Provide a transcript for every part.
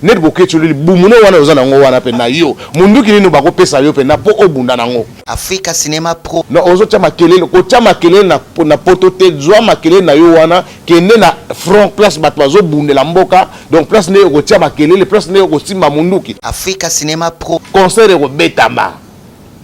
Ned boketshu le libumu no wana oza nango wana pe na yo munduki nini bako pesa yo pena po obunda nango. Africa cinema pro. Non ozo tia makelele ko tia makelele na na poto te zua makelele na yo wana kende na front place batu bazo bundela mboka donc place nde oko tia makelele place nde oko simba munduki. Africa cinema pro. Concert eko betama.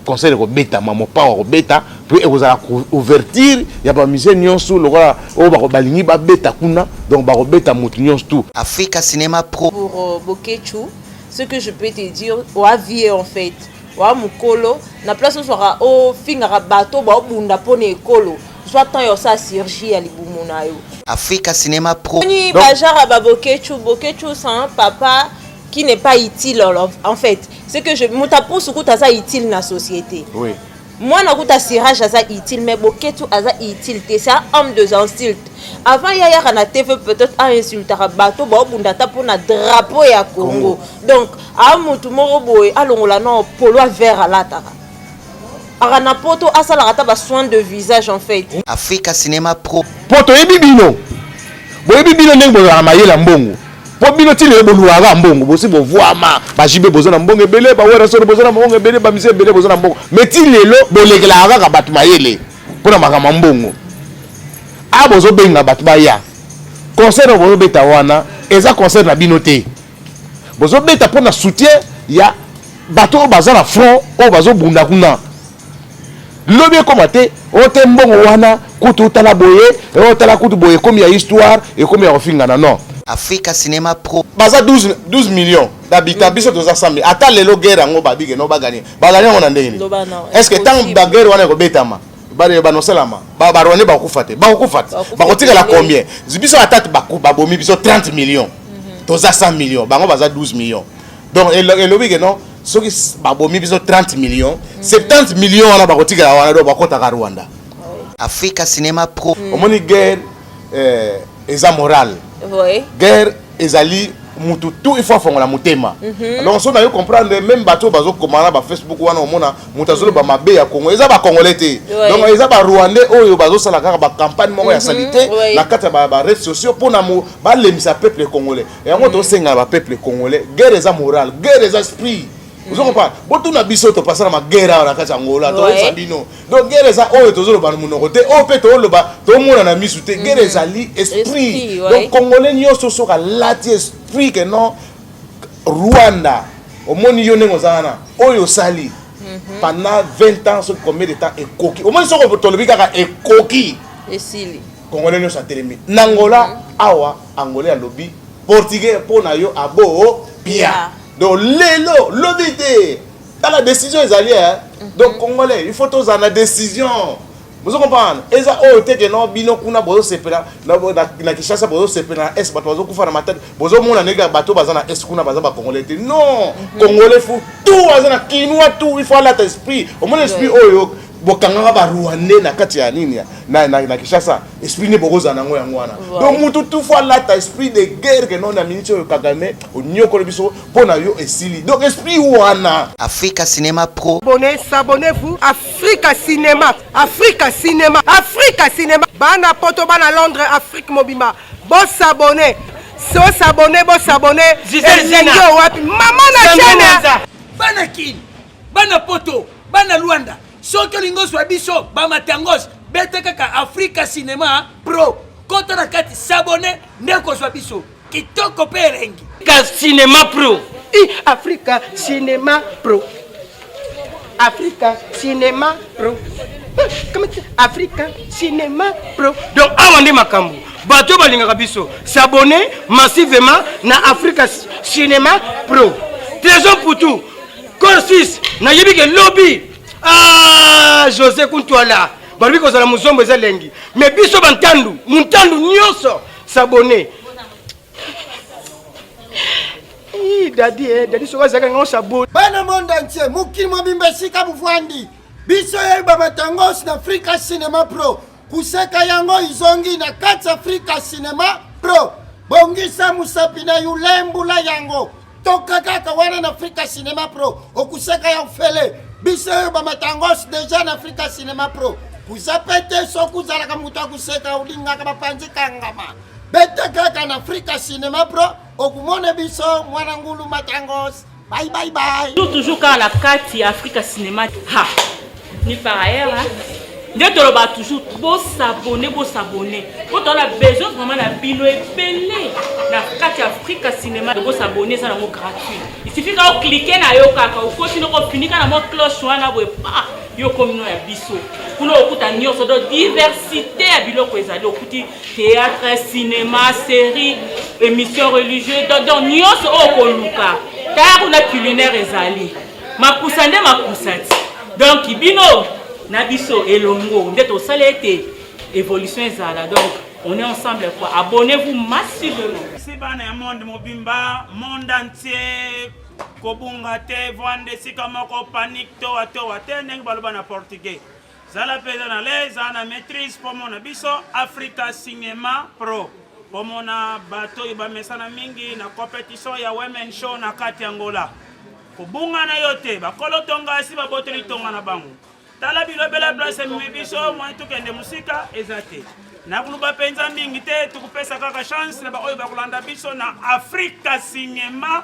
concert ekobetama mopao akobeta mpe ekozala ouverture ya bamusicien nyonso lokola oyo balingi babeta kuna donc bakobeta motu nyonso tout africa cinema pro pour euh, boketshu ce que je peux te dire oa vie en fait oa mokolo na place ozwaka ofingaka bato baobunda mpo na ekolo zwa temps ya osala surgie ya libumu na yo africa cinema pro ni bajara baboketshu boketshu sans papa qui n'est pas utile en fait c'est que je moto apusu kutu aza utile na société oui. mwana kutu asirage aza utile mais boketu aza utile te c'est un homme de insulte avant ye ayaka na tv peut-être ainsultaka bato baobunda ata mpo na drapeau ya congo donc a motu moko boye alongola no polo a vert alataka aka na poto asalaka ata basoin de visage en fait africa cinema pro mpo toyebi bino boyebi bino ndenge bozalaka mayela mbongo po bino ti lelo boluaka mbongo bosi bovuama bajibe boza na mbongo ebele bawerasoro boza na mbongo ebele bamisi ebele boza na mbongo me ti lelo bolekelaka kaka bato mayele mpo na makambo ya mbongo a ah, bozobenga bato baya concert oyo bozobeta wana eza concert na bino te bozobeta mpo na soutien ya bato oyo baza na front oyo bazobunda kuna lobi ekoma te ote oh, mbongo wana kutu otala boye eh, otala oh, kutu boye ekomi ya histoire ekomi ya kofingana non africa cinema pro baza 12, 12 millions d'habitants biso toza 100 000 ata lelo guerre yango babike no baganie baganie yango na ndenge nini est ce que ntango baguerre wana ekobetama banosalama barwande bakokufa te bakokufa te bakotikala combien biso ata babomi biso 30 millions mhm. toza 100 millions bango baza 12 millions donc elobi ke non soki babomi biso 30 millions 70 mm. millions wana bakotikela wana do bakotaka rwanda africa cinema pro mm. omoni guerre eh, eza morale guerre ezali mutu tout il faut afongola motema mhm. donc so nayo comprendre même bato oyo bazokoma na bafacebook wana omona moto azoloba mhm. mabe ya congo eza bacongolais te donc eza barwandais oyo bazosala kaka bacampagne moko ya mhm. salite na kati ya baredes sociaux mpona balembisa peuple congolais yango tosenga ba peuple congolais guerre eza morale guerre eza esprit ozo comprendre botuna biso topasana magere awa na kati ya ngola toyesa bino donc gere eza oyo tozoloba na monoko te oyo mpe toloba tomona na misu te gere mm. ezali esprit donc congolais nyonso soki alati esprit ke non rwanda omoni yo ndenge oza wana oyo osali mhm. pendant 20 ans soki combien de temps ekoki omoni soki tolobi kaka ekoki esili Congolais nyoso atelemi. Nangola awa Angolais alobi portugais mpo na yo abo pia donc lelo lobi te tala décision ezali eh? Mhm. donc congolais il faut tozala na décision bozo comprendre eza oyo oh, te ke no bino kuna bozosepela na kinshasa bozosepela na est bato bazokufa na matadi bozomona ndenge bato baza na est kuna baza bacongolais te non mhm. congolais fu tout aza na kinois tout il faut alata esprit omona esprit oyo bokangaka ba rwandais na kati ya nini na, na, na Kinshasa esprit nde bokozala nango yango wana donc mutu tufu alata esprit de guerre ke nona miniti oyo Kagame onyokoli biso mpo na yo esili donc esprit wana Africa Cinema Pro Bonne s'abonnez-vous Africa Cinema Africa Cinema Africa Cinema bana poto bana Londres Afrique mobima bo s'abonner so s'abonner bo s'abonner elingi wapi mama na chaîne bana kin bana poto bana luanda soki olingi ozwa biso bamatangos beta kaka afrika cinema pro kota na kati sabone nde kozwa biso kitoko mpe elengi ka cinema pro i afrika cinema pro afrika cinema pro afrika cinema pro donc awa nde makambo bato balingaka biso sabone massivement na afrika cinema pro trésor putu Corsus, nayebi ke lobi ah, Jose Kuntwala balobi kozala muzombo eza lengi me biso bantandu muntandu nyonso sabone dadi eh, dadi soki azalaka ngango sabone bana monde entier mokili mobimba esika bovandi biso yeba batangos na afrika cinema pro kuseka yango izongi na kati afrika cinema pro bongisa mosapi na yo lembola yango toka kaka wana na afrika cinema pro okusaka ya ofele biso oyo bamatangos deja na afrika cinema pro kuza mpe te soki ozalaka moto akuseka olingaka bapanzi kangama beta kaka na afrika cinema pro okumona biso mwana ngulu matangos bye bye bye toujours kaka na kati ya afrika cinema ha ni par ailleurs hein? nde toloba toujours bosabone bosabone po tozala besoin vraiment na bino ebele na kati ya afrika cinéma bosabone eza nango gratuit isifi kaka oklike na yo kaka okoti noko ofinika na mwa cloche wana boye pa yo komino ya biso kuna okuta nyonso donc diversité ya biloko ezali okuti théâtre cinéma série émission religieuse donc nyonso oyo okoluka tala kuna culinaire ezali makusa nde makusa ti donc bino na biso elongo nde tosala ete évolution ezala donc on est ensemble quoi abonnez-vous massivement si bana ya monde mobimba monde entier kobunga te vanda esika moko panique towa towa te ndenge baloba na portugais zala mpenza na lez zala na maîtrise mpo mona biso africa cinema pro bomona bato oyo bamesana mingi na competition ya women show na kati ya ngola kobunga na yo te bakolo tonga asi babotoli tonga na bango tala bilobela place ememi biso mwa tokende mosika eza te nakoloba mpenza mingi te tokopesa kaka chance na baoyo bakolanda biso na afrika cinema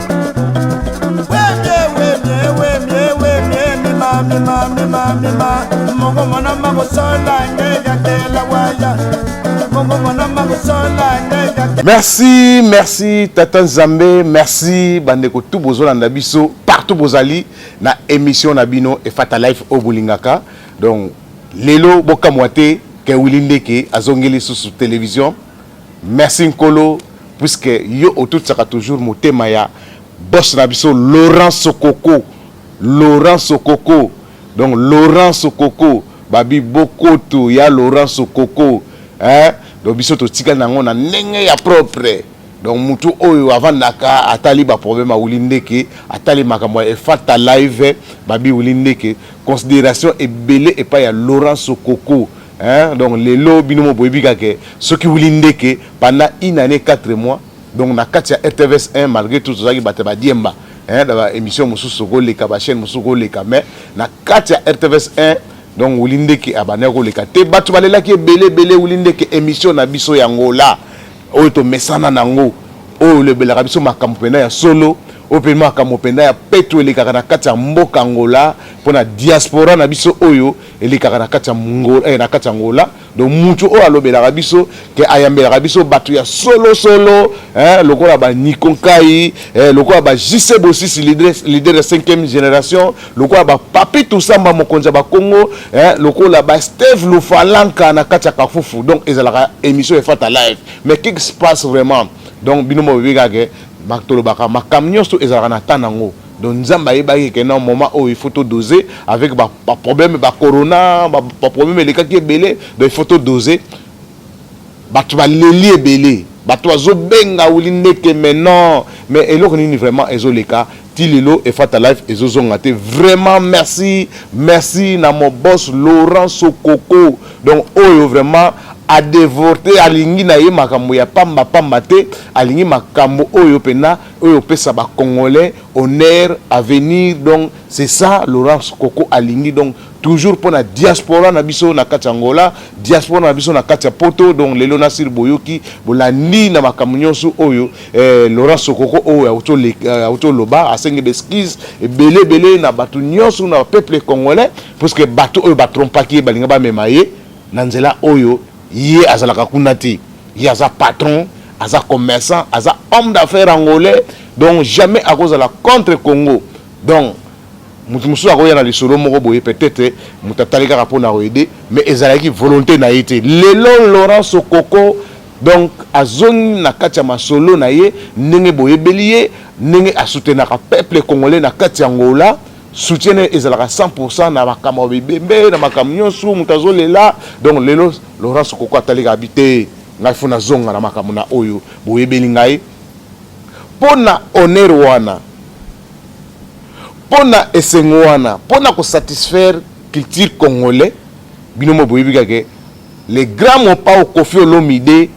mongomona makosola nde yakela waya mongomona makosola nde merci merci tata nzambe merci bandeko tu bozolanda biso partout bozali na émission na bino efata life oyo bolingaka donc lelo bokamwa te ke wili ndeke azongeli lisusu télévision Merci Nkolo puisque yo otutisaka toujours motema ya boss na biso Laurent Sokoko Laurent Sokoko donc Laurent Sokoko babi bokoto ya Laurent Sokoko hein donc biso totikali nango na ndenge ya propre donc mutu oyo avandaka atali ba problème awuli ndeke atali makambo ya efata live babi wuli ndeke considération ebele epai ya Laurent Sokoko Hein, donc lelo bino mo boyebi kake soki wili ndeke pendant une année 4 mois donc na kati ya RTVS 1 malgré tout tozalaki bato ba diemba hein da ba émission mosusu koleka ba chaîne mosusu koleka mais na kati ya RTVS 1 donc wili ndeke abandaki koleka te bato balelaki ebele ebele wili ndeke émission na biso ya ngola oyo tomesana nango oyo olobelaka biso makambo mpenza ya solo oyo mpe makambo mpenza ya peto elekaka na kati ya mboka ngola mpo na diaspora na biso oyo elekaka na kati ya Angola, eh, na kati ya Angola. Donc mutu oyo alobelaka biso ke ayambelaka biso batu ya solo solo eh, lokola ba Nico Nkai eh, lokola ba JC Bosisi leader, leader ya 5e generation, lokola ba Papi Tusamba mokonzi ya ba Kongo eh, lokola ba Steve Lufalanka na kati ya Kafufu. Donc ezalaka emission ya Fata live. Mais qu'est-ce qui se passe vraiment? Donc bino mo bibika ke tolobaka makambo nyonso ezalaka na temps nango. Donc Nzambe ayebaki que non moment oyo il faut to doser avec ba, ba problème ba corona ba, ba problème elekaki ebele donc il faut to doser bato baleli ebele bato bazobenga wili ndeke mais non mais eloko nini vraiment ezoleka ti lelo efata life ezozonga te vraiment merci merci na mon boss laurent sokoko donc oyo vraiment adevorte alingi na ye makambo ya pamba pamba te alingi makambo oyo mpena oyo opesa ba congolais honneur avenir donc c'est ça Laurence Koko alingi donc toujours pona diaspora na biso na kati Angola diaspora na biso na kati ya poto donc lelo na sir boyoki bolandi na makambo nyonso oyo eh, Laurence Koko oyo auto eh, loba asengi b'excuse ebele ebele na bato nyonso na peuple congolais parce que bato oyo batrompaki ye balinga bamema ye na nzela oyo ye azalaka kuna te ye aza patron aza commerçant aza homme d'affaires angolais donc jamais akozala contre congo donc moto mosusu akoya na lisolo moko boye peut-être moto atali kaka mpo na koyede mais ezalaki volonté na ye te lelo laurent sokoko donc azongi na kati ya masolo na ye ndenge boyebeli ye ndenge asutenaka peuple congolais na kati ya ngola soutien naye ezalaka 100% na makambo ya bibembe na makambo nyonso moto azolela donc lelo laurence koko atali kabi te ngai fo nazonga na makambo na oyo boyebeli ngai mpo na honneur wana mpo na esengo wana mpo na kosatisfaire culture congolais bino mo boyebi kake le grand mopao kofi olomide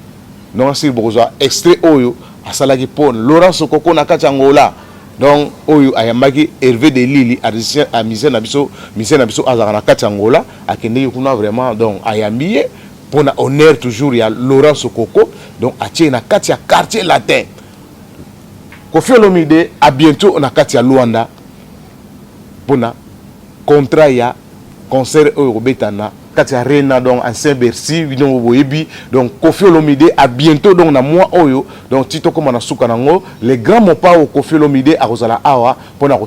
nongasili bokozwa extrait oyo asalaki mpo laurence koko na kati ya ngola donc oyo ayambaki Hervé de Lili à musicien na biso musicien na biso azalaka na kati Angola akendeki kuna vraiment donc ayambi ye mpo na honneur toujours ya Laurent Sokoko donc atie na kati ya quartier latin Koffi Olomide à bientôt na kati ya Luanda mpo na contrat ya Concert oyo ekobeta na kati ya Rena donc ancien Bercy bino boyebi donc Koffi Olomide a bientot donc na mois oyo donc ti tokoma na suka na ngo le grand Mopao Koffi Olomide akozala awa pona ko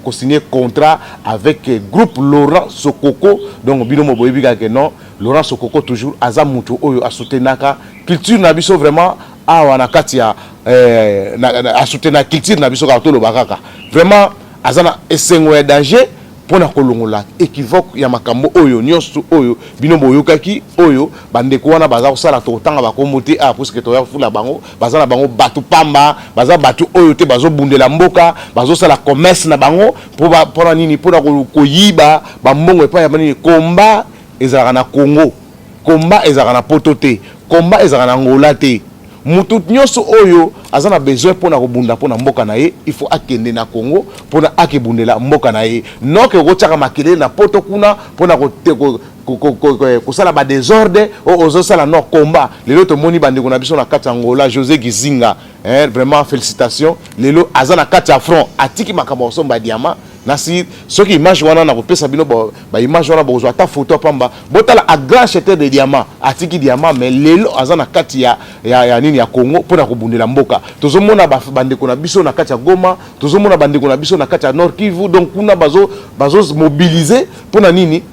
ko signer contrat avec groupe Laurent Sokoko donc bino mo boyebi kaka ke non Laurent Sokoko toujours aza mutu oyo a soutenaka culture na biso vraiment awa na kati ya eh, na, na, a soutenaka culture na biso kaka toloba kaka vraiment aza na esengo ya danger Mpo na kolongola equivoque ya makambo oyo nyonso oyo bino boyokaki, oyo bandeko wana baza kosala, tokotanga bakombo te awa puisque toya kofula bango, baza na bango bato pamba, baza bato oyo te bazobundela mboka, bazosala commerce na bango mpo ba mpo na nini? Mpo na koyiba ba mbongo epai ya banini? Combat ezalaka na Congo, combat ezalaka na poto te, combat ezalaka na Angola te. mutu nyonso oyo aza na besoin mpona kobunda mpona mboka na ye il faut akende na congo mpona akebundela mboka na ye noke okotiaka makelele na poto kuna mpona kosala ba desordre oyo oh, ozosala no combat lelo tomoni bandeko na biso na kati ya ngola josé gizinga eh, vraiment félicitation lelo aza na kati ya front atiki makambo ya kosomba diama nasi soki image wana nakopesa bino baimage wana bokozwa ata foto ya pamba botala a grand cheteur de diamant atiki diamant mais lelo aza na kati ya, ya, ya nini ya congo mpo na kobundela mboka tozomona bandeko na biso na kati ya goma tozomona bandeko na biso na kati ya nord kivu donc kuna bazomobilize bazo mpo na nini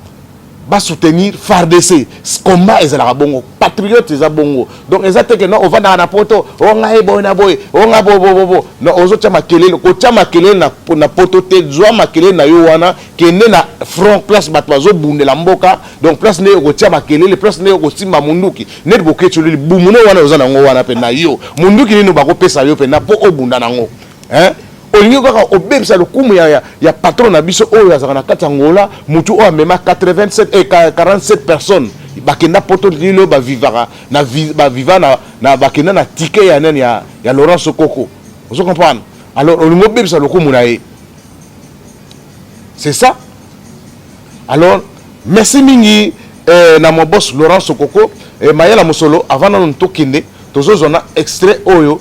ba soutenir FARDC combat ezalaka bongo patriote eza bongo donc eza te que non ovandaka na poto o ngai boye na boye o ngai bobobobo non ozotya makelele kotya makelele na, na poto te zwa makelele na yo wana kende na front place bato bazobundela mboka donc place nde okotya makelele place nde okosimba munduki neti boketsholi libumu no wana oza nango wana mpe na yo munduki nini bakopesa yo mpe na mpo obunda nango hein olingi kaka obebisa lokumu ya, ya, ya patron na biso oyo azalaka na kati ya ngola motu oyo amema 87 eh, 47 personnes bakenda poto lilo bavivaka na baviva na, na bakenda na tike ya nani ya, ya laurent sokoko ozo comprendre alors olingi obebisa lokumu na ye c'est ça alors merci mingi eh, na mobos laurent sokoko eh, mayela mosolo avant nano tokende tozozwa na extrait oyo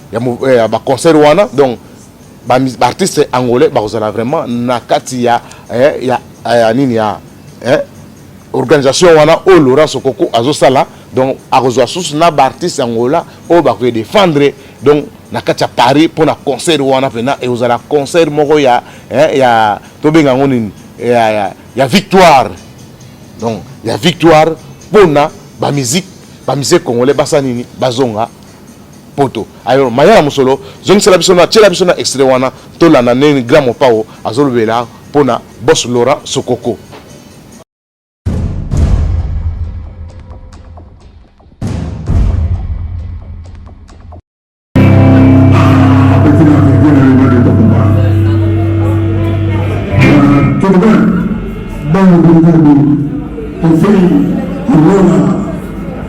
ya ba concert wana donc ba artiste angolais bakozala vraiment na kati ya eh, ya ya nini ya eh, organisation wana oyo Laurent Sokoko azosala donc akozwa susu na ba artiste angola oyo bakoye défendre donc na kati ya Paris mpo na concert wana mpena ekozala concert moko ya eh, ya tobenga yango nini ya, ya, ya victoire donc ya victoire mpo na bamiziki bamisie congolais basa nini bazonga poto alors mayala mosolo zongisela biso na tiela biso na extrait wana tolanda ndenge grand mopao azolobela mpo na bos laurent sokoko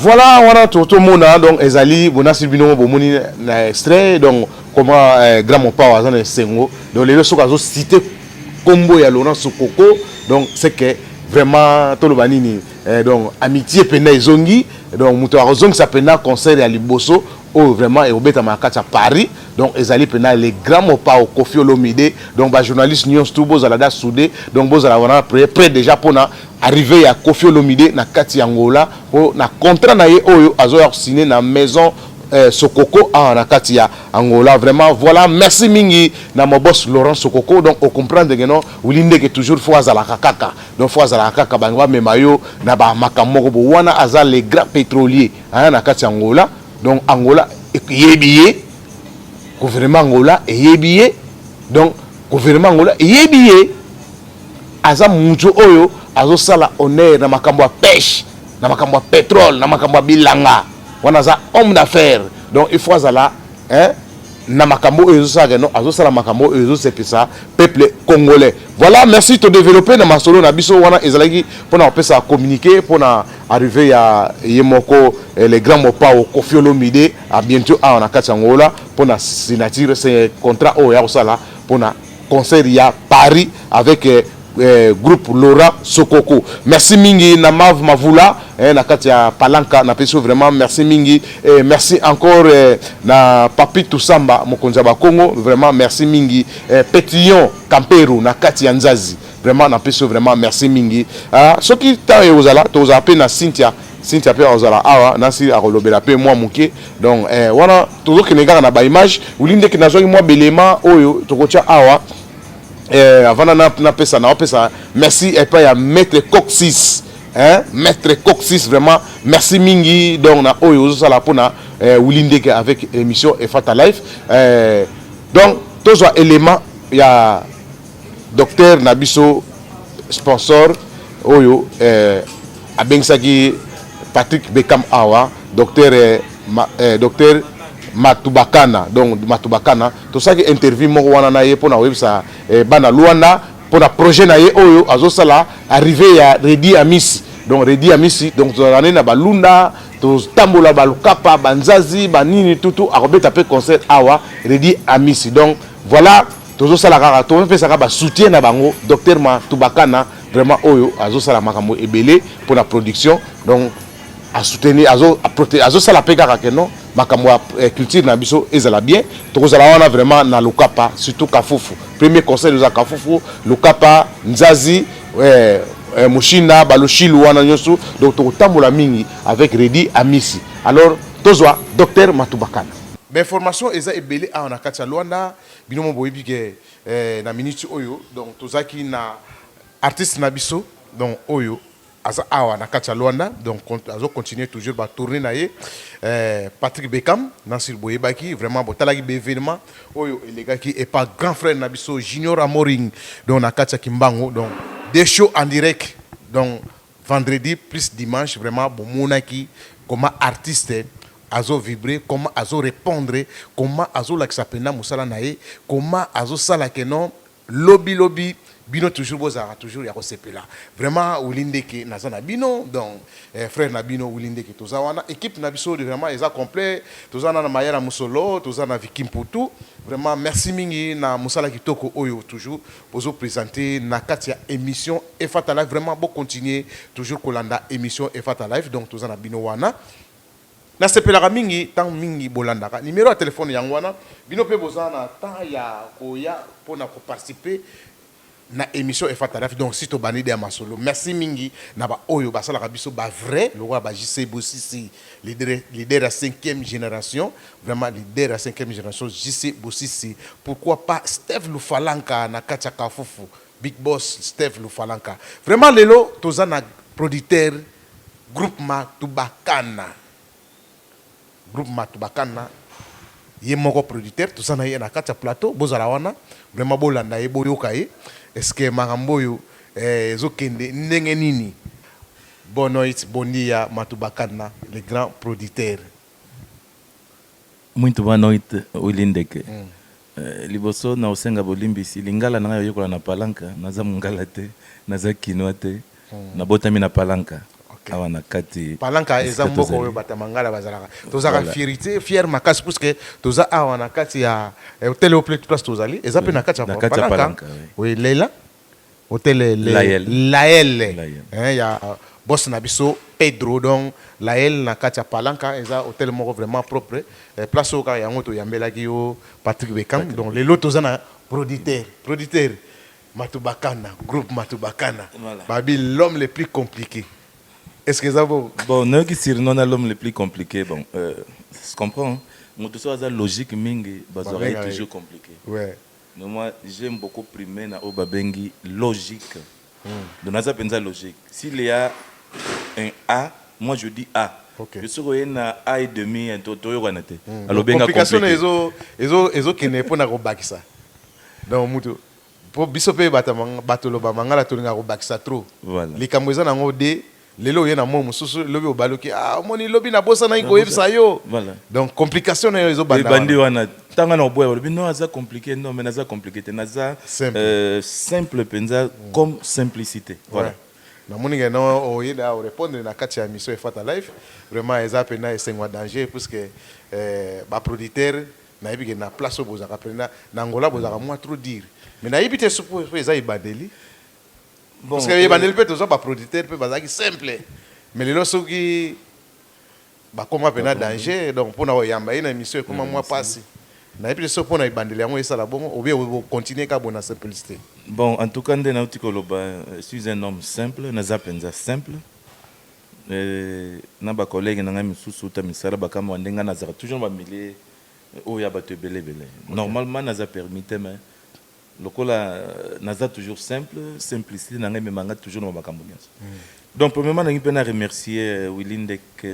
Voilà wana to to mona donc ezali bonasi bino bo moni na extrait donc comment eh, grand mopao aza na esengo donc lelo soki azo citer kombo ya Laurent Sokoko donc c'est que vraiment toloba nini eh, donc amitié penda ezongi donc moto akozongisa penda concert ya liboso oyo oh, vraiment ekobetama na kati ya paris donc ezali mpena le grand mopao kofi olomide donc bajournaliste nyonso tu bozala da soude donc bozala wana près déjà mpona Arrivee ya Koffi Olomide na kati ya Angola po na contrat na ye oyo azo ya signer na maison eh, Sokoko awa na kati ya Angola vraiment voilà merci mingi na mon boss Laurent Sokoko donc o comprendre que non Willy Ndeke toujours faut azalaka kaka donc faut azalaka kaka bango ba mema yo na ba makambo moko bo wana aza le grand pétrolier hein, na kati ya Angola donc Angola eyebi ye gouvernement Angola eyebi ye donc gouvernement Angola eyebi ye aza mutu oyo azosala honneur na makambo ya peche na makambo ya petrole na makambo ya bilanga wana aza homme d'affaire donc il faut azala hein, na makambo oyo ezosalaka no azosala makambo oyo ezosepisa peuple congolais voilà merci todeveloppe na masolo na biso wana ezalaki mpona kopesa communiqué mpona arrivé ya ye moko eh, le grand mopao kofi olomide a bientôt awa na kati ya ngola mpona signature se contrat oyo ya kosala mpona concert ya Paris avec eh, eh, groupe Laura Sokoko. Merci mingi na Mav Mavula eh, na kati ya Palanca na peso vraiment merci mingi eh, merci encore eh, na Papi Tusamba mokonzi ya Bakongo vraiment merci mingi eh, Petillon Kampero na kati ya Nzazi vraiment na peso vraiment merci mingi ah, soki temps ekozala tozala pe na Cynthia Cynthia pe akozala awa nasi akolobela pe mwa moke donc eh, wana tozokende kaka na baimage wili ndeke nazwaki mwa belema oyo tokotya awa eh, avanda napesa na napesa merci epai eh, ya maître coxis eh, maître coxis vraiment merci mingi donc na oyo ozosala mpona eh, wili ndeke avec émission efata life eh, donc tozwa élément ya Docteur na biso sponsor oyo eh, abengisaki Patrick Beckham awa docteur eh, ma, eh, docteur Matubakana donc Matubakana tosaki interview moko wana na ye mpona koyebisa eh, bana Luanda mpona projet na ye oyo azosala arrive ya Redi Amisi donc Redi Amisi donc tozalaka nde na balunda totambola balukapa banzazi banini tutu akobeta mpe concert awa Redi Amisi donc voilà tozosala kaka topesaka basoutien na bango docteur matubakana vraiment oyo azosala makambo ebele mpo na production donc asoutenir azosala mpe kaka ke non makambo ya eh, culture na biso ezala bien tokozala wana vraiment na lokapa surtout kafufu premier conseil eza kafufu lokapa nzazi eh, eh, mushinda baloshilu wana nyonso donc tokotambola mingi avec redi amisi alors tozwa docteur matubakana bainformation eza ebele awa na kati ya lwanda Bino moko boyebi ke na minute oyo donc tozalaki na artiste na biso donc oyo aza awa na kati ya Luanda donc azo continuer toujours ba tourner na ye Patrick Beckham na sur boyebaki vraiment botalaki ba evenement oyo elekaki et par grand frère na biso Junior Amoring donc na kati ya Kimbangu donc de show en direct donc Vendredi plus dimanche vraiment bomonaki comment artiste azo vibre comment azo repondre comment azo lakisa penda musala na ye comment azo sala que non lobi lobi bino toujours bozalaka toujours yako sepela vraiment willy ndeke naza na bino donc frère na bino willy ndeke toza wana equipe na biso vraiment eza complet toza na mayala musolo toza na vicky mputu vraiment merci mingi na musala kitoko oyo toujours Ozo presente na kati ya emission Efata live vraiment bo continuer toujours kolanda emission Efata live donc toza na bino wana na sepelaka mingi tango mingi bolandaka numero ya telephone yango wana bino pe boza na temps ya koya pona ko participer na emission Efata live donc si tobandi dejà masolo merci mingi na ba oyo basalaka biso ba vrai lokola ba JC Bosisi leader ya cinquième generation Vraiment leader ya cinquième generation JC Bosisi pourquoi pas Steve Lufalanka na kati ya Kafufu Big Boss Steve Lufalanka vraiment lelo toza na producteur groupement Tubakana groupement Tubakana ye moko producteur toza na ye na kati ya plateau bozala wana vraiment bolanda ye boyoka ye est-ce que makambo oyo eh, ezokende ndenge nini Bonoit Bondia Matubakana le grand producteur Muito boa noite Willy Ndeke. Liboso na kosenga bolimbisi, lingala na ngai oyekola na Palanca, naza mungala te, naza kinois te, nabotami na Palanca awa na kati. Palanca eza mboka oyo batu ya mangala bazalaka. Tozalaka fierite, fier makasi puisque toza awa na kati ya Hotel Haut Place tozali, eza pe na kati ya Palanca. Oui Leila Otele le Lael. Lael Lael. hein ya boss na biso Pedro donc Lael na kati ya Palanca eza hotel moko vraiment propre eh, place oyo kaka yango to yambelaki yo Patrick Beckham donc lelo toza na producteur producteur Matubakana groupe Matubakana Voilà. babi l'homme le plus compliqué est ce que eza bongo Bon, nayoki surnom na l'homme le plus compliqué. Bon, euh, je comprends. Moto soki aza logique mingi, bazwaka ye Babenga ye. toujours compliqué. ouais Mais moi j'aime beaucoup prime na oyo babengi logique donc naza penza logique s'il ya un a moi je dis a mais soki oye na a et demi toyokana te alobi nga complique ezo kende pona ko bakisa donc mutu po biso pe batu loba mangala tolingaka ko bakisa trop likambo eza nango de Lelo oye na mot mususu lobi obaluki ah omoni lobi na bosa na ko yebisa yo. Voilà. Donc complication na yo ezo banda. Ebandi wana tanga na oboya lobi non aza compliqué non mais naza compliqué te naza simple, euh, simple penza mm. comme simplicité. Voilà. Ouais. namoni ngai na oyeda orépondre na kati ya émission efata live vraiment eza mpena esengo ya danger puisque eh, baproducteur nayebi ke na place oyo bozalaka mpena na angola bozalaka mwa trop dire mais nayebi te sopo eza ebandeli Bon, parce que euh, ebandeli mpe tozwa baproducteur mpe bazalaki simple mais lelo soki bakoma mpe na danger donc mpo na koyamba ye na émission ekoma mwa mpasi nayebi te soki mpo na ebandeli yango esala bongo obi okontinue kaka bo na simplicité bon en tout cas nde nauti koloba euh, suis un homme simple naza mpenza simple euh, na bakolege na ngai mosusu uta misala bakamwa ndenge nazalaka toujours na bamilie oyo ya bato ebele ebele normalement naza permis te mais Lokola naza toujours simple, simplicite na nga emema nga toujours na ba makambo nionso. Donc premièrement nalingi mpe na remercier Willy Ndek,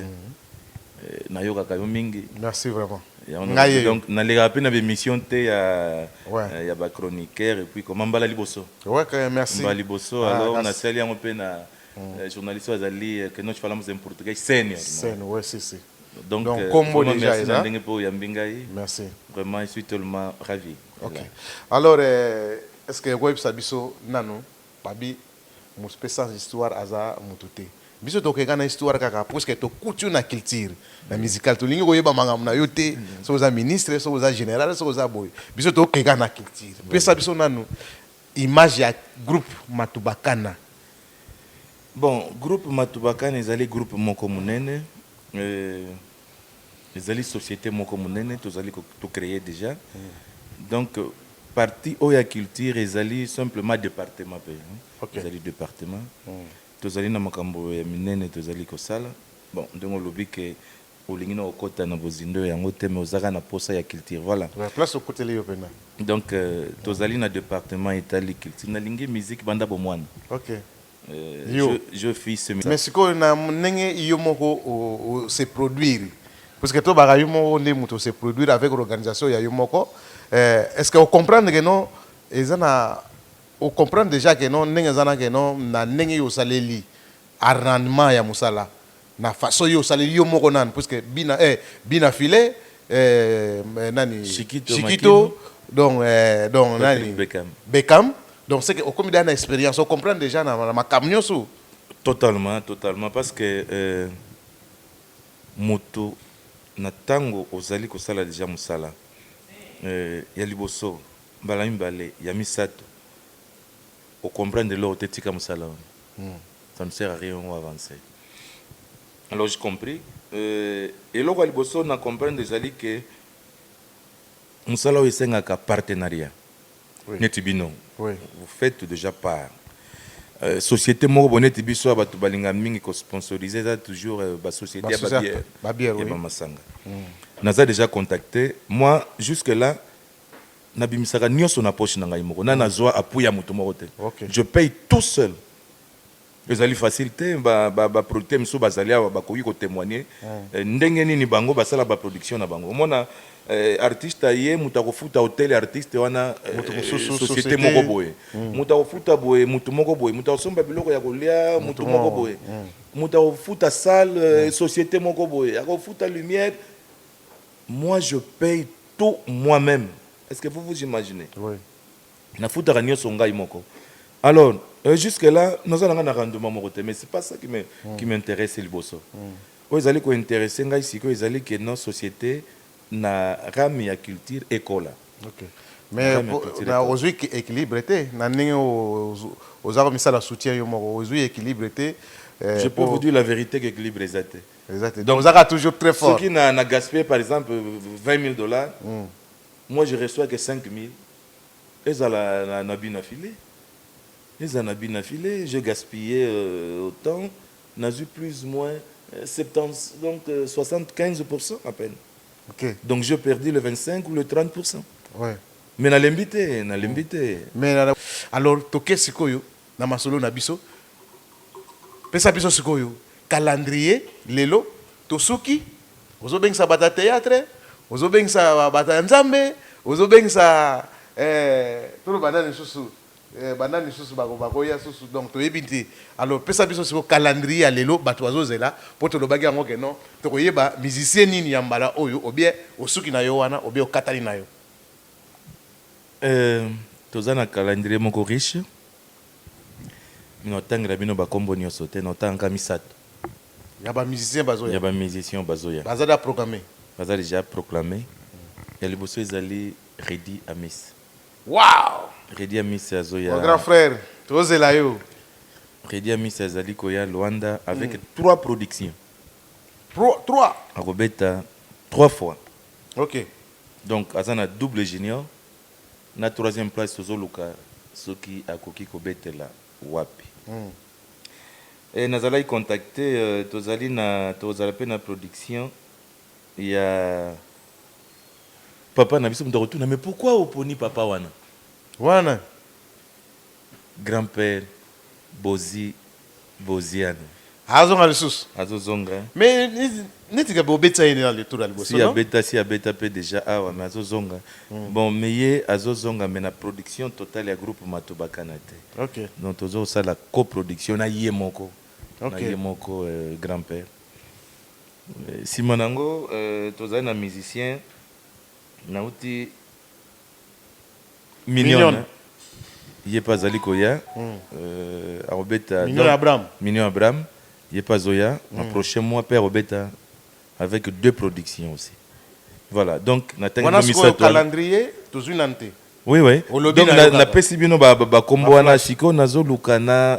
nayokaka yo mingi. Merci vraiment. Yango Nga na yeyo. donc nalekaka mpe na ba emission te ya Ouais. ya ba chroniqueurs et puis comment mbala liboso. Ouais, quand même, merci. Mbala liboso Ah, alors merci. nasali yango mpe na eh, journaliste oyo azali eh, que nós falamos em português senior. Scène, ouais, si, si. Donc, Donc, eh, kombo vraiment déjà merci na eza. ndenge mpe oyambi ngai. Merci. Vraiment, je suis tellement ravi. Ok alors est ce que oko yebisa biso nanu babi mospe sans histoire aza mutu te biso toke nga na histoire kaka puisque to kuti yo na culture na musical tolingi ko yeba makambo na yo te soki oza ministre soki oza general soki oza boye biso to keka na culture pesa biso nanu image ya groupe matubakana bon groupe matubakana ezali groupe moko munene euh, Ezali societe moko munene tozali to creer dejà donc partie oyo ya culture ezali simplement departement pe ezali departement tozali na makambo ya minene tozali kosala bon ndenge olobi ke olingi na kokota na bozindo ya yango te mais oza kaka na posa ya culture voila donc tozali na departement etali culture nalingi musique banda bomwana yo mais sikoyo na ndenge yo moko se produire puisque tobaka yo moko nde moto se produire avec l'organisation ya yo moko eh, est ce que ocomprendre ke no eza na ocomprendre déjà ke no ndenge eza na ke no na ndenge yo osaleli arrangement ya mosala Na façon yo osaleli yo moko nanu puisque bina eh bina filet eh nani Chikito, Chikito Makino. donc eh donc Patrick nani Beckham. Beckham donc c'est que okomi dejà na experience o comprendre dejà na na makambo nioso. Totalement totalement parce que euh, moto na tango ozali kosala dejà mosala euh, ya liboso mbala mibale ya misato O comprendre eloko te tika musala wana ça ne sert à rien o avancer alors je compris eloko ya liboso na comprendre ezali que musala oyo esengaka partenariat neti bino vous faites dejà part societe moko boye neti biso ya batu balingaka mingi ko sponsoriser eza toujours ba societe ya ba bière ya ba masanga naza dejà contacte moi jusque là Na bimisaka nioso na poche na ngai moko na na zua appui ya moto moko te je paye tout seul ezali facile te ba producteur misusu ba zali awa ba koki ko temoigner ndenge nini bango ba sala ba production na bango omona artiste aye moto ako futa hotel ya artiste wana societe moko boye moto ako futa boye moto moko boye moto ako somba biloko ya ko lia moto moko boye moto ako futa salle societe moko boye ako futa lumière Moi je paye tout moi meme est ce que vous vous imaginez oui. na futaka nioso ngai moko alors euh, jusque là naza nanga na rendement moko te mais c'est pas ça qui me mm. qui m'intéresse liboso mm. oyo ezali ko intéresse ngai siko ezali que non société na rame ya culture ekola okay. mais ozwi équilibre te na ndenge oza komisala soutien yo moko ozwi équilibre te euh, je peux vous dire la vérité que équilibre eza te eza te donc zaka toujours très fort soki na na gaspiller par exemple 20000 dollars mm. moi je reçois que 5000 ezala na, na bina filet ezala na bina filet je gaspiller euh, autant nazui plus moins 70 euh, donc euh, 75% à peine okay. donc je perdu le 25 ou le 30% ouais. mais nalembi te nalembi te mais alors toke sikoyo Na masolo na biso, pesa biso sikoyo calendrier lelo tosuki ozo bengisa bato ya theatre ozo bengisa bato ya nzambe ozo bengisa eh, toloba nani susu eh, banani susu bako bakoya susu donc toyebi te alors pesa biso sikoyo calendrier ya lelo bato bazozela mpo tolobaki yango ke non tokoyeba musicien nini ya mbala oyo obie osuki na yo wana obie okatani na yo Euh toza na calendrier moko riche mais na tangela bino ba kombo nioso te na tanga kaka misatu Ya ba musiciens bazo ya ya ba musiciens oyo bazo ya baza dejà programme. baza dejà proclame ya liboso ezali Reddy Amis Wow! Reddy Amis azo ya Mon grand frère tozo zela yo. Reddy Amis azali koya Luanda avec trois productions Pro trois. ako beta trois fois Ok. Donc aza na double junior na troisième place tozo luka soki akoki ko betela wapi et nazalaki contacte tozali na tokozala pe na production ya papa na biso mutu akotuna mais pourquoi oponi papa wana wana grand père bozi Boziano. Azonga lisusu. Azo zonga hein. Mais neti gabi obetisa ye na tour ya liboso non? Si abeta si abeta pe dejà awa mais azo zonga. Bon mais ye azo zonga mais na production totale ya groupe matubakana te. Ok. Donc tozo sala co production na ye moko. Ok. Na ye moko grand père. Sima na yango tozali na musicien nawuti. Mignonne ye pe azali koya akobeta Mignon Abraham ye pe azoya na prochain mois pe akobeta avec deux productions aussi voilà donc natangi bino misatu wana. Wana sikoyo calendrier tozui nanu te. Oui oui donc napesi bino ba kombo wana sikoyo nazoluka na.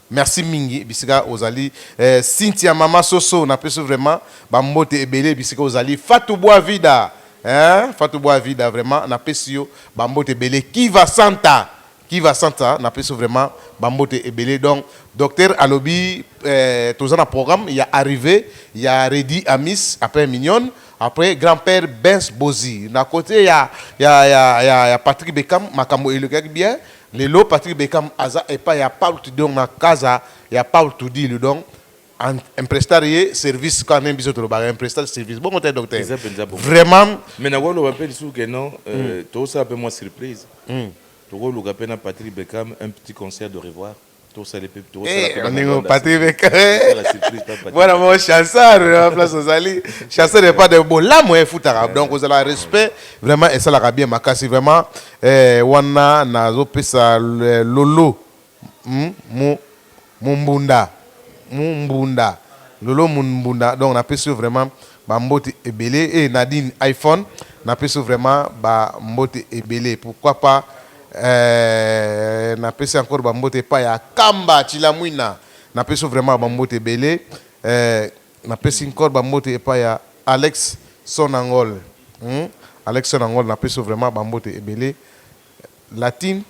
Merci mingi bisika ozali eh, Cynthia mama soso na peso vraiment ba mbote ebele bisika ozali Fatou Boa Vida hein Fatou Boa Vida vraiment na pesi yo ba mbote ebele Kiva Santa Kiva Santa na peso vraiment ba mbote ebele donc docteur alobi eh, toza na programme ya arrivée ya Reddy Amis après Mignonne après grand-père Benz Bozi na côté ya ya ya ya, ya Patrick Beckham makambo elekaki bien Lelo Patrick Beckham aza epai ya Paul Tudor na casa ya Paul Tudilu donc en emprestar ye service kaka ndenge biso tolobaka emprestar service bongo te docteur Eza penza bongo. vraiment Mais nakoki koloba mpe lisusu ke non euh, tokosala mpe mwa surprise tokoluka mpe na Patrick Beckham un petit concert de revoir voilà mon chasseur euh, place ozali chasseur epa de bolamu efutaka donc ozala respect vraiment esalaka bien makasi vraiment eh, wana nazopesa eh, lolo hmm, mumbunda mumbunda lolo mumbunda donc napesi yo vraiment Ba mbote ebele eh Nadine iPhone na pesi yo vraiment ba mbote ebele pourquoi pas eh na pesi encore ba mbote epai ya Kamba Tshilamwina na pesi yo vraiment ba mbote ebele eh na pesi encore ba mbote epai ya Alex Sonangol hum Alex Sonangol na pesi yo vraiment ba mbote ebele Latine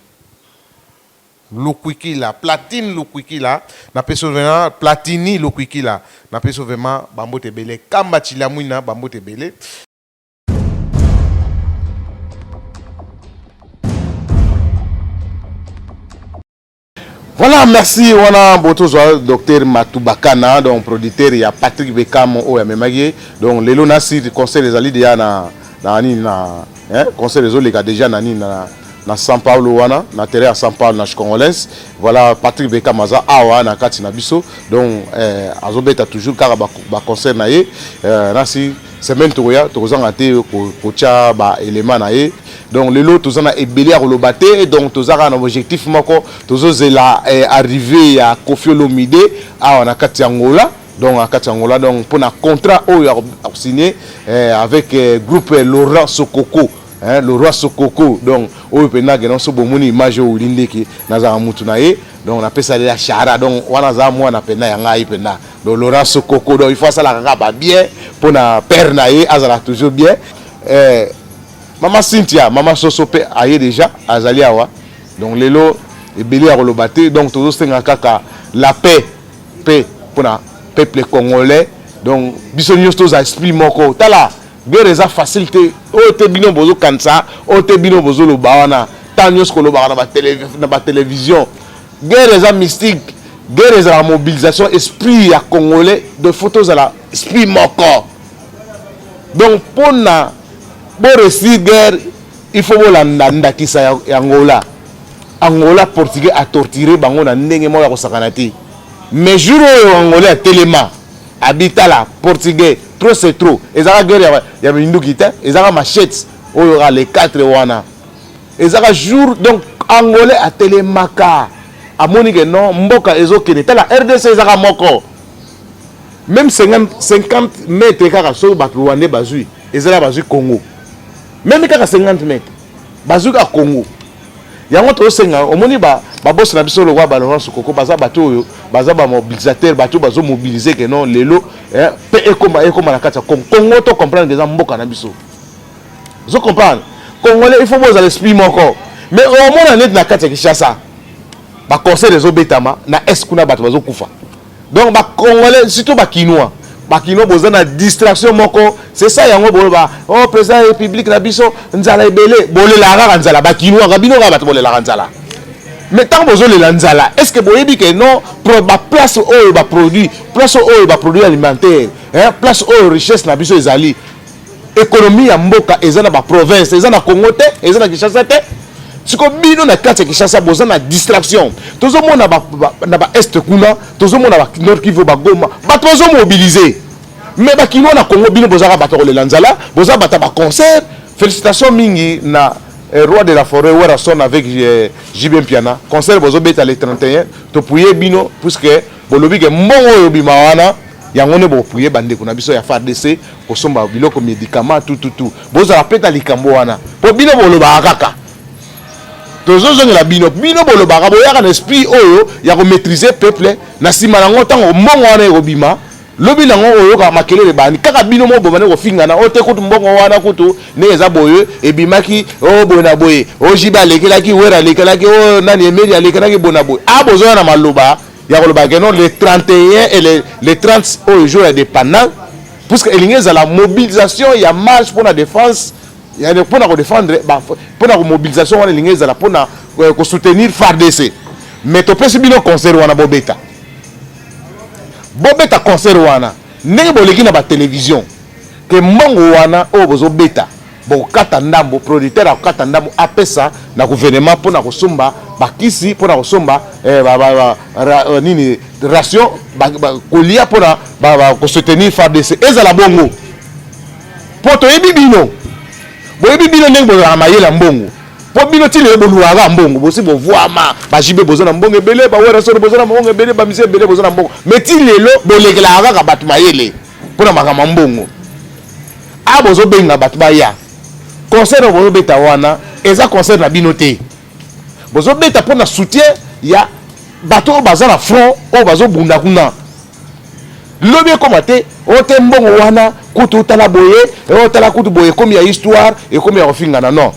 Lukwikila platine lukwikila na peso vema platini lukwikila na peso vema ba mbote ebele kamba tshilamwina ba mbote ebele. Voilà, merci. Wana botozwa docteur Matubakana, donc producteur ya Patrick Beckham oyo amemaki. Donc lelo na site concert ezali deja na na nini na Hein, concert ezo leka déjà na nini na na São Paulo wana na terrain ya São Paulo na Congolais. Voilà Patrick Beckham aza awa na kati na biso. Donc eh, azo beta toujours kaka ba, ba concert na ye. Eh, nasi semaine tokoya tokozanga te kotia ba élément na ye. Donc lelo toza na ebele ya koloba te. Donc toza kaka na objectif moko tozozela eh, arrivée ya Koffi Olomide awa na kati ya Angola. donc na kati ya ngola donc mpo na contrat oyo akosigne eh, avec eh, groupe eh, laurent sokoko eh, laurent sokoko donc oyo mpenza akenda nso bomoni image oyo wili ndeke nazalaka mutu na ye donc napesali ya shara donc wana aza mwana mpenza ya ngai mpenza donc laurent sokoko donc il faut asalaka kaka babien mpo na père na ye azalaka toujours bien eh, mama cynthia mama soso mpe aye déjà azali awa donc lelo ebele ya koloba te donc tozosenga kaka la paix pe pona peuple congolais donc biso nyonso toza esprit moko tala guerre eza facile te oyo te bino bozokanisa oyo te bino bozoloba wana ntango nyonso kolobaka na batelevizio guerre eza mystique guerre ezalaka mobilisation esprit ya congolais de faut tozala esprit moko donc mpona boresir guerre il faut bolanda ndakisa ya, ya angola angola portugais atortire bango na ndenge moko ya kosakana te mais jour oyo angola ya telema abitala portugais trop c'est trop ezaka guerre ya, ya minduki te ezaka machete oyo ka le 4 wana ezaka jour donc angolais atelemaka amoni ke non mboka ezokende tala rdc ezaka moko meme 50 mètre kaka soki bato rwandais bazwi ezala bazwi congo meme kaka 50 mètre bazwi kaka congo yango tozosenga omoni babosi na biso lokola balorance koko baza bato oyo baza bamobilisateur bato bazomobilize ke non lelo eh, mpe ekoma ekoma na kati ya congo congo to comprendre ke eza mboka na biso ozo comprendre congolais il faut bozala esprit moko mais omona neti na kati ya kinshasa baconseil ezobetama na est kuna bato bazokufa Donc ba congolais surtout ba kinois bakino boza na distraction moko c'est ça yango boloba oh président ya république na biso nzala ebele bolelaka kaka nzala bakinuaka bino kaka bato bolelaka nzala mais ntango bozolela nzala est ce que boyebi ke non baplace oyo baproduit place oyo baproduit alimentaire place oyo richesse na biso ezali Economie ya mboka eza na ba province, eza na Congo te, eza na Kinshasa te. Siko bino na kati ya Kinshasa boza na distraction. Tozo mona ba, ba, na ba est kuna, tozo mona ba Nord Kivu ba Goma, bato bazo mobiliser. Mais ba kinois na Congo bino bozaka bato kolela nzala, boza bata ba concert. Félicitations mingi na eh, roi de la forêt Werrason avec eh, JB Mpiana. Concert bozo beta le 31, topuye bino puisque Bolobi ke mbongo oyo bima wana yango nde bokopriye bandeko na biso ya FARDC kosomba biloko medikama tututu. Bozala mpe na likambo wana mpo bino bolobaka kaka tozozongela bino bino bolobaka boyaka na esprit oyo ya komaîtrise peuple na nsima nango ntango mbongo wana ekobima lobi nango oyoka makelele bani kaka bino moko bobandi kofingana o oh, te kutu mbongo wana kutu ndenge eza boye ebimaki o oh, boye na boye ojibe oh, alekelaki wera alekelaki o nani emeli alekelaki boye na boye a ah, bozoya na maloba ya koloba ke non le 31 et le, le 30 oyo jour ya dépendant puisque elingi ezala mobilisation ya marche mpo na défense mpo na kodefendre mpo na komobilisation wana elingi ezala mpo na euh, kosoutenir fardc mais topesi bino concert wana bobeta bobeta concert wana ndenge boleki na batelevizio ke mbongo wana oyo bozobeta bokokata ndambo producteur akokata ndambo apesa na gouvernement mpo na kosomba bakisi mpo na kosomba eh, ba, ba, ba, ra, eh, nini ration kolia mpo na kosoutenir fardc ezala bongo mpo toyebi bino boyebi bino ndenge bozalaka mayele ya mbongo mpo bino ti lelo boluaka mbongo bosi bovuama bajibe boza na mbongo ebele bawerasoro boza na mbongo ebele bamisi ebele boza na mbongo mai ti lelo bolekelaka kaka bato mayele mpo na makambo ya mbongo a ah, bozobenga bato baya concert oyo bozobeta wana eza concert na bino te bozobeta mpo na soutien ya bato oyo baza na front oyo bazobunda kuna lobi ekoma te oyo te mbongo wana kutu otala boye otala kutu boye ekomi ya histoire ekomi ya kofingana non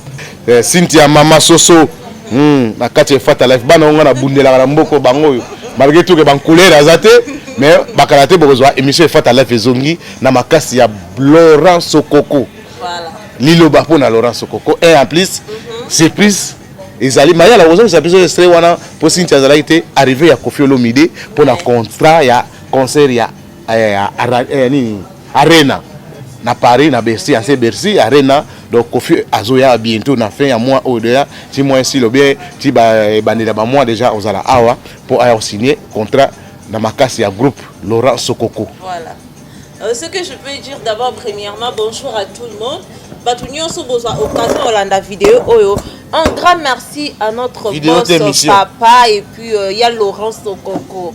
Eh, Cynthia mama soso hmm, na kati ya fata life bana onga na bundelaka na mboko bango oyo malgré tout que ban couleur aza te mais bakala te bokozwa émission ya fata life ezongi na makasi ya Laurent Sokoko voilà. liloba mpo na Laurent Sokoko et en plus mm -hmm. surprise ezali mayala kozongisa biso estre wana mpo Cynthia azalaki te arrivé ya Koffi Olomide mpo na contrat ya concert ya eh, ara, eh, nini arena na paris na bercy anse bercy arena donc kofi azoya bientôt na fin ya mois oyo deja ti mois esili obie ti ebandeli ya bamois deja ozala awa mpo aya osigne contrat na makasi ya groupe laurent sokoko voilà. Euh, ce que je peux dire d'abord premièrement bonjour à tout le monde bato nyonso bozwa occasion olanda video oyo un grand merci à notre Vidéo boss papa et puis euh, ya laurent sokoko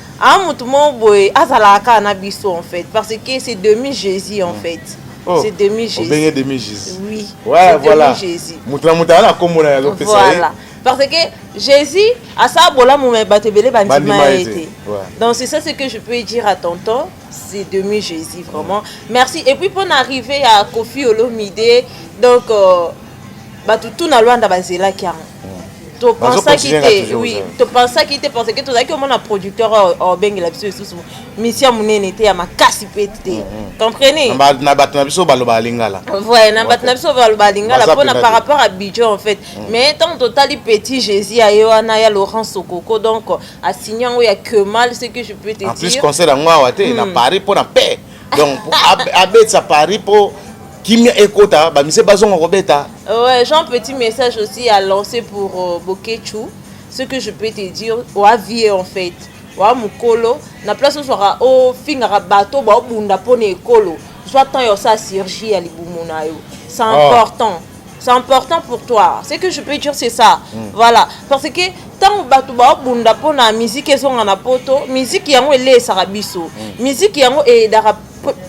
a ah, motu moko boye azalaka kaka na biso en fait parce que c'est demi jésus en hmm. fait Oh, c'est demi jésus obenge demi jésus oui ouais, voilà jésus motu na motu aza na nkombo na ye azopesa voilà parce que jésus asala bolamu me bato ebele bandima ye te donc c'est ça ce que je peux dire à tonton c'est demi jésus vraiment merci et puis mpo na arrive ya kofi olomide donc euh, bato tout na lwanda bazelaki yango topensaki te oui topensaki te parce que tozalaki omona producteur obengela biso lisusu misia monene te ya makasi mpe te mm, mm. comprenez na bato na biso balobaka lingala voilà na bato na biso balobaka lingala mpona par rapport à budget en fait mm. mais ntango totali petit jésus aye wana ya laurent sokoko donc asigne yango ya kemal ce que je peux te dire en plus concert yango awa te na paris mpo na paix donc abetisa paris mpo kimia ekota bamise bazonga kobeta ouais, jean petit message aussi à lancer pour euh, boketchu ce que je peux te dire oa vie en fait oa mokolo na place ozwaka ofingaka bato baobunda mpo na ekolo zwa temps ya osala surgie ya libumu na yo c'est ah. important oh. c'est important pour toi ce que je peux dire c'est ça mm. voilà parce que ntango bato baobunda mpo na miziki ezonga na poto miziki yango eleesaka biso mm. miziki yango eyedaka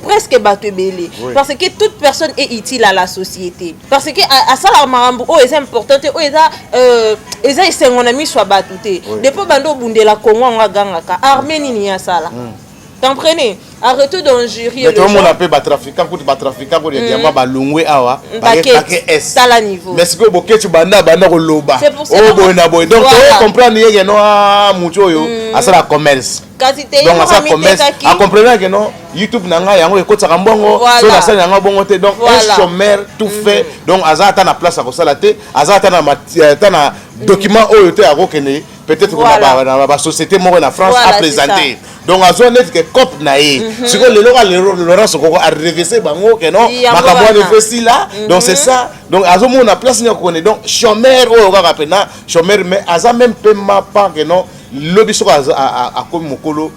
presque bato ebele parce que toute personne est utile à la société parce que asalaka makambo oyo eza important te oyo eza euh, eza esengo na miso ya bato te depo bando obundela kongo yango agangaka arme nini ye asala mm. comprenez a retour d'injurier to mona pe ba trafiquant kuti ba trafiquant ko ya mm. diamba balungwe awa mm, ba ke es tala niveau mais siko boketu banda banda ko loba o boy na boy donc to comprendre yeke no a ah, mutu oyo mm. asala commerce donc asala commerce a comprendre que non youtube na ngai yango ekotisaka mbongo so nasali yango bongo te donc un chômeur tout fait donc aza ata na place ya kosala te aza ata na euh, document oyo te akokende peut-être voilà. na ba société moko na France voilà, a présenter donc azwa neti ke cope na ye mhm. sikoyo lelo ka laurence okoko arevese bango ke non makambo wana efe sila mhm. donc c'est ça donc azomona place nini akokone donc chomeur oyo kaka mpena chomeur mais aza même mpe mapa ke non lobi soko akomi mokolo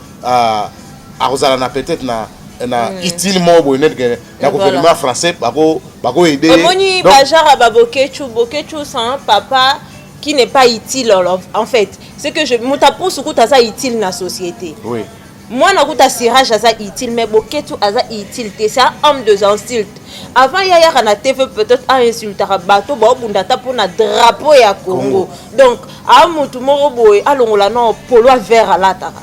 akozala na peut-être na na mm. utile moko boye neti ke na gouvernement français bako bako aide omoni bajara babokechu bokechu sans papa qui n'est pas utile en fait c'est que je moto apusu kutu aza utile na société oui. mwana kutu asirage aza utile mais boketu aza utile te c'est un homme de insulte avant ye ayaka na tv peut-être ainsultaka bato baobunda ata mpo na drapeau ya congo donc a motu moko boye alongola no polo ya vert alataka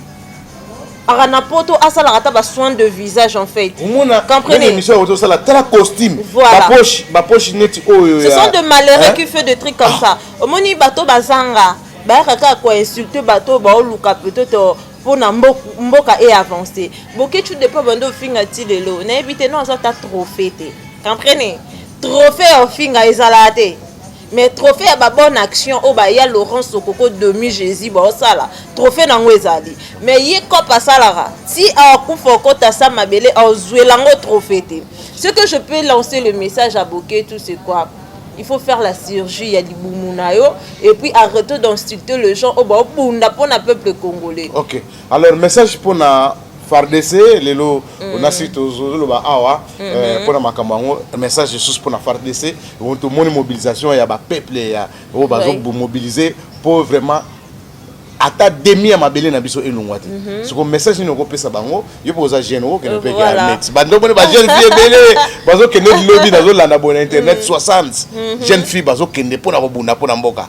aka na poto asalaka ata basoin de visage en fait omonaémission yango tosala tala costume bapoche bapoche neti oyo ce sont de malheureux qui fait de trucs comme ah. ça omoni bato bazanga bayaka kaka koinsulte bato baoluka peut-être euh, mpo na mboka e avance boketshu depa bande ofinga ti lelo nayebi te no aza ata trophée te comprene trophée ya ofinga ezalaka te mais trophée ya babonne action oyo baya laurent sokoko demi jésus baosala trophée na yango ezali mais ye cop asalaka ti akufa okota sa mabele ozwela yango trophée te ce que je peux lancer le message à boke tout c'est quoi il faut faire la chirurgie ya libumu na yo et puis arrête d'insulter le gens oyo baobunda mpo na peuple congolais okay. Alors message pona FARDC lelo mm. onasi tozoloba awa mm -hmm. eh, pona makambo yango message lisusu pona FARDC tomoni mobilisation ya bapeuple ya oyo bazomobilize mpo vraiment ata demi ya mabele na biso elongwa te mhm. soko message nini okopesa bango yo mpo oza jeune okokende mpe armet bando moni bajeune fille ebele bazokende lobi nazolanda boye na internet 60 mhm. mhm. jeune fille bazokende mpo na kobunda mpo na mboka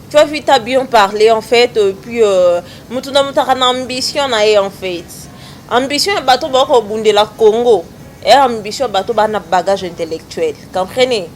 Tu as vu, t'as bien parlé en fait, et puis euh, mutu na mutaka na ambition na ye en fait. Ambition ya bato ba ko bundela Congo. Et ambition bato ba na bagage intellectuel. Comprenez?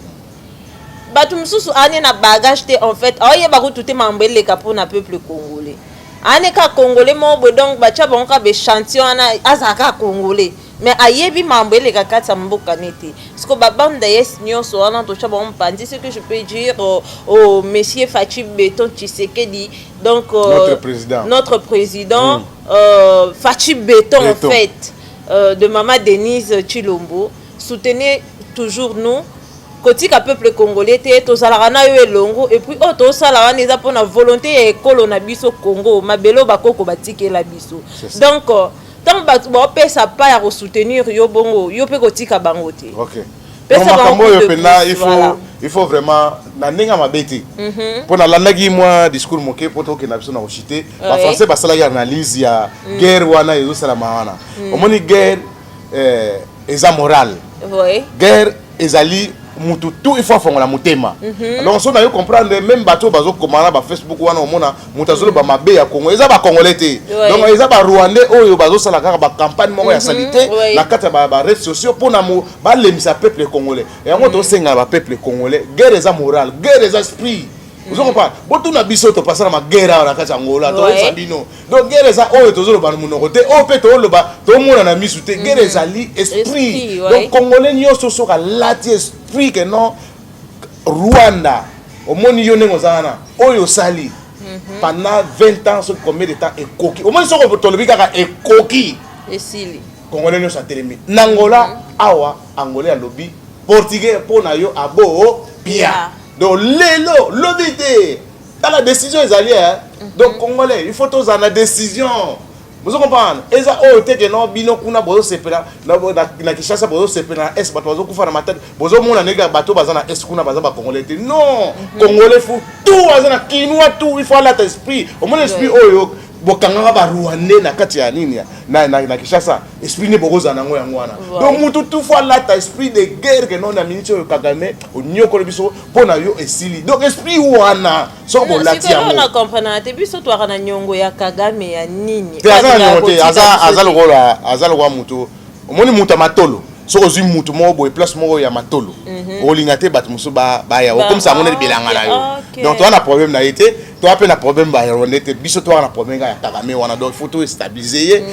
Bato mususu ane na bagage te en fait. Aye ba ko tute mambo eleka po na peuple congolais. Ane ka congolais mo bo donc ba cha bango ka be chantion ana azaka congolais. mais ayebi mambo eleka kati ya mboka ne te siko babande dayes nyonso wana tosha bango mopanzi ce que je peux dire au, au monsieur faci beton tshisekedi donc euh, notre président, notre président mm. euh, faci beton, beton en fait euh, de mama denise chilombo soutenez toujours nous kotika peuple congolais te tozalaka na yo elongo epuis oyo oh, tosala wana eza mpona volonté ya ekolo na biso congo mabele oyo bakoko batikela biso donc euh, ntango bato baopesa pa ya kosoutenir yo bongo yo mpe kotika bango te okay. makambo oyo mpenza il faut vraiment na ndenge ya mabe te mhm. mpo nalandaki mwa discours moke mpo tokenda biso na koshite bafrançais basalaki analyse ya mm. guerre wana ezosalama wana mm. omoni guerre eh, eza morale guerre ezali mutu tout il faut afongola motema mhm. donc so nayo comprendre même bato oyo bazokoma na bafacebook wana omona moto azoloba mabe ya congo eza bacongolais te donc eza barwandais oyo bazosala kaka bacampagne moko ya mhm. salite na kati ya barede sociaux mpona balembisa peuple congolais yango mhm. tosengana bapeuple congolais guerre eza morale guerre eza esprit ozo comprendre botuna biso topasaka magera awa na kati ya ngola toyebisa bino donc guerre eza oyo tozoloba na monoko te oyo mpe tooloba tomona na misu te guerre mhm. ezali esprit donc congolais nyonso soki alati esprit ke non rwanda omoni yo ndenge oza wana oyo osali mhm. pendant 20 ans soki combien de temps ekoki omoni soko tolobi kaka ekoki esili congolais nyonso atelemi na angola mhm. awa angolais alobi portugais mpo na yo abo pia donc lelo lobi te tala décision ezali eh? Mhm. donc congolais il faut tozala na décision bozo comprendre eza oyo oh, te ke no bino kuna bozosepela na kinshasa bozosepela na est bato bazokufa na matete bozomona ndenge bato baza na est kuna baza bacongolais te non mhm. congolais fu tout aza na kinois tout il faut alata esprit omona esprit oyo oh, bokangaka barwandais na kati ya nini na, na, na kinshasa esprit nde bokozala nango yango wana donc mutu tufu alata esprit de guerre ke no na miniti oyo kagame onyokoli biso mpo na yo esili donc esprit wana soko bolati yango comprenaka te biso twaka na nyongo ya kagame ya nini te aza na nyongo te aza lokola aza lokola moto omoni moto ya matolo soki ozwi moto moko boye place moko ya matolo mhm. olinga te bato mosusu baya okomisa yango neti bilanga na yo donc toza na problème na ye te toza mpe na problème bayarwandais te biso toza na problème kaka ya kagame wana donc faut to estabilise ye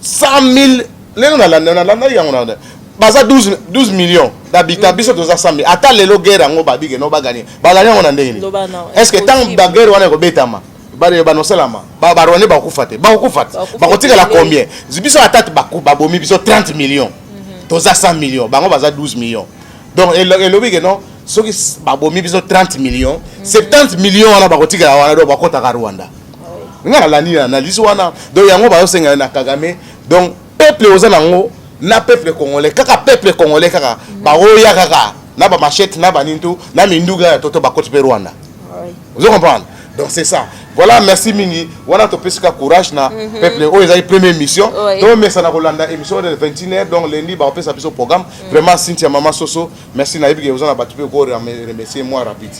100 mhm. 000 lelo nalanda nalandaki yango na baza 12, 12 millions d'habitants biso toza 100 000 ata lelo guerre yango babike no bagani bagani yango na ndenge nini est ce que ntango baguerre wana ekobetama banosalama barwande bakokufa te bakokufa te bakotikala combien biso ata babomi biso 30 millions mhm. toza 100 millions bango baza 12 millions donc elobi ke non soki babomi biso 30 millions 70 mhm. millions wana bakotikala wana do bakotaka rwanda ah ngai nalandi na analyse wana donc yango bazosenga na kagame donc peuple oza nango na peuple congolais kaka peuple congolais kaka baoya kaka na ba machette na banini tu na minduga ya toto bakoti mpe rwanda ozo comprendre donc c'est ça voilà merci mingi wana topesi ka courage na mhm. peuple oyo ezali première émission tomesana kolanda émission de 21 heure donc lundi bakopesa biso programme mhm. vraiment cynthia mama soso merci nayebi ke oza na bato mpe okoremercie moi rapide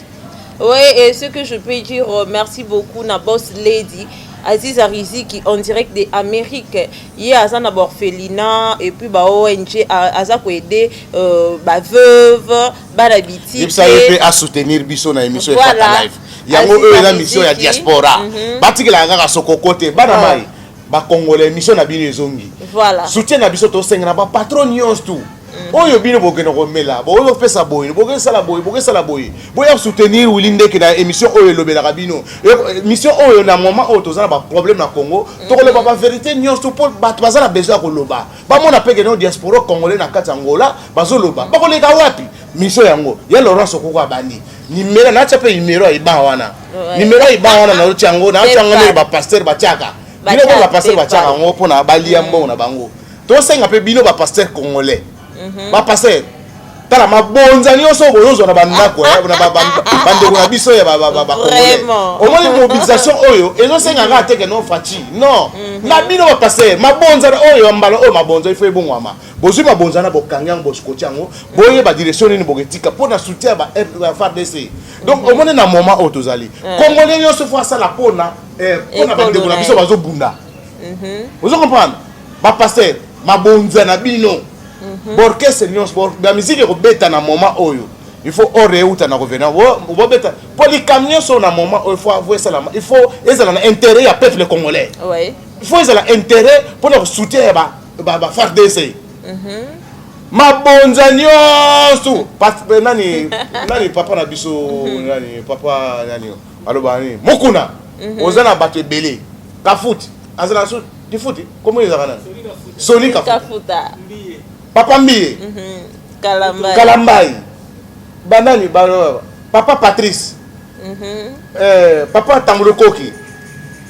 Oui, et ce que je peux dire, euh, merci beaucoup na boss lady. Aziza Riziki en direct de Amérique ye aza na orphelinat et puis ba ONG aza ko aider euh, ba veuve bana bitike yebisa ye mpe asoutenir biso na émission voilà. efata live yango oyo eza mission ya diaspora mm -hmm. batikelaka kaka sokoko te bana ah. mai ba congolais émission na bino ezongi voilà soutien na biso tosenga na ba patron nyonso tout mm. oyo bino bokenda komela bokoki kopesa boye bokoki sala boye bokoki sala boye boya soutenir wili ndeke na émission oyo elobelaka bino émission oyo na moment oyo toza na baproblème na congo mm. tokoloba baverité nyonso mpo bato baza na besoin ya koloba bamona mpe keno diaspora congolais na kati ya ngola bazoloba bakoleka wapi mission yango ya laurence okoko abandi nimero natya mpe nimero ya iban wana nimero ya iban wana naotya yango naotya yango ndenge bapaster batyaka bino mpe bapaster batyaka yango mpo na balia mbongo na bango tosenga mpe bino bapaster congolais mhm. bapaster tala mabonza nyonso oyo bozozwa na bandako eh, bandeko na biso ya bacongolais omoni mobilisation oyo ezosenga kaka teke no faci non mhm. na bino bapaster mabonza oyo ya mbala oyo mabonza ifo ebongwama bozwi mabonza na bokangi yango boskoti yango boyeba direction nini boketika mpo na soutien ya fardc donc mm. omoni na moment oyo tozali mm. congolais nyonso fo asala mpona eh, mpona bandeko na biso bazobunda mm-hmm. ozo comprendre bapaster mabonza na bino mm-hmm. borkestre nyonso bamiziki ekobeta na moment oyo il faut ore euta na revenant bobeta mpo likambo nyonso na moment oyo fo esalama il faut ezala na intérêt ya peuple congolais il faut ezala intérêt mpo na kosoutien ya ba ba ba FARDC mhm. mabonza nyonso eh, nani nani papa na biso mhm. nani papa nani aloba nini mokuna mhm. oza na bato ebele kafuti aza na so difuti komo ezaka nani soni kafuta papa mbiye kalambai banani ba papa patrice eh, papa tambulokoki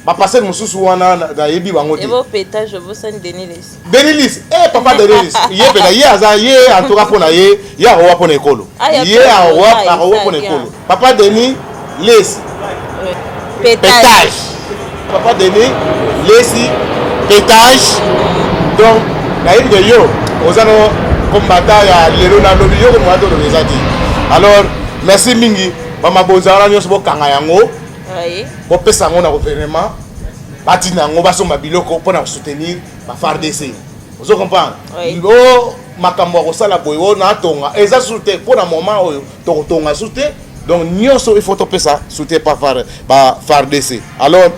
ba passer mususu wana na yebi bango te ebo peta je vous sens Denilis Denilis eh papa Denilis ye peta ye aza ye en tout cas pona ye ye awa pona ekolo ah, ye awa awa pona ekolo papa Denis lesi petage papa Denis lesi petage donc nayebi de yo oza no combattant ya lelo na lobi yo ko mwa to lobi ezati alors merci mingi ba mabonza wana nyonso bokanga yango bopesa yango na gouvernement batina yango basomba biloko mpo na kosoutenir bafardc ozo comprendre o makambo ya kosala boye oyo natonga eza susu te mpo na moment oyo tokotonga susu te donc nyonso il faut topesa soutien pa fardc alors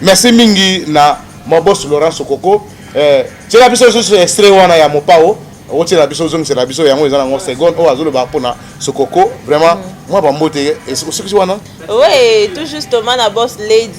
merci mingi na mobos laurent sokoko eh, tiela biso lisusu estre wana ya mopao okotiela biso ozongisela biso yango eza nango seconde oyo azoloba mpona sokoko vraiment mwa bambote osukisi wana oui tout justement na boss lady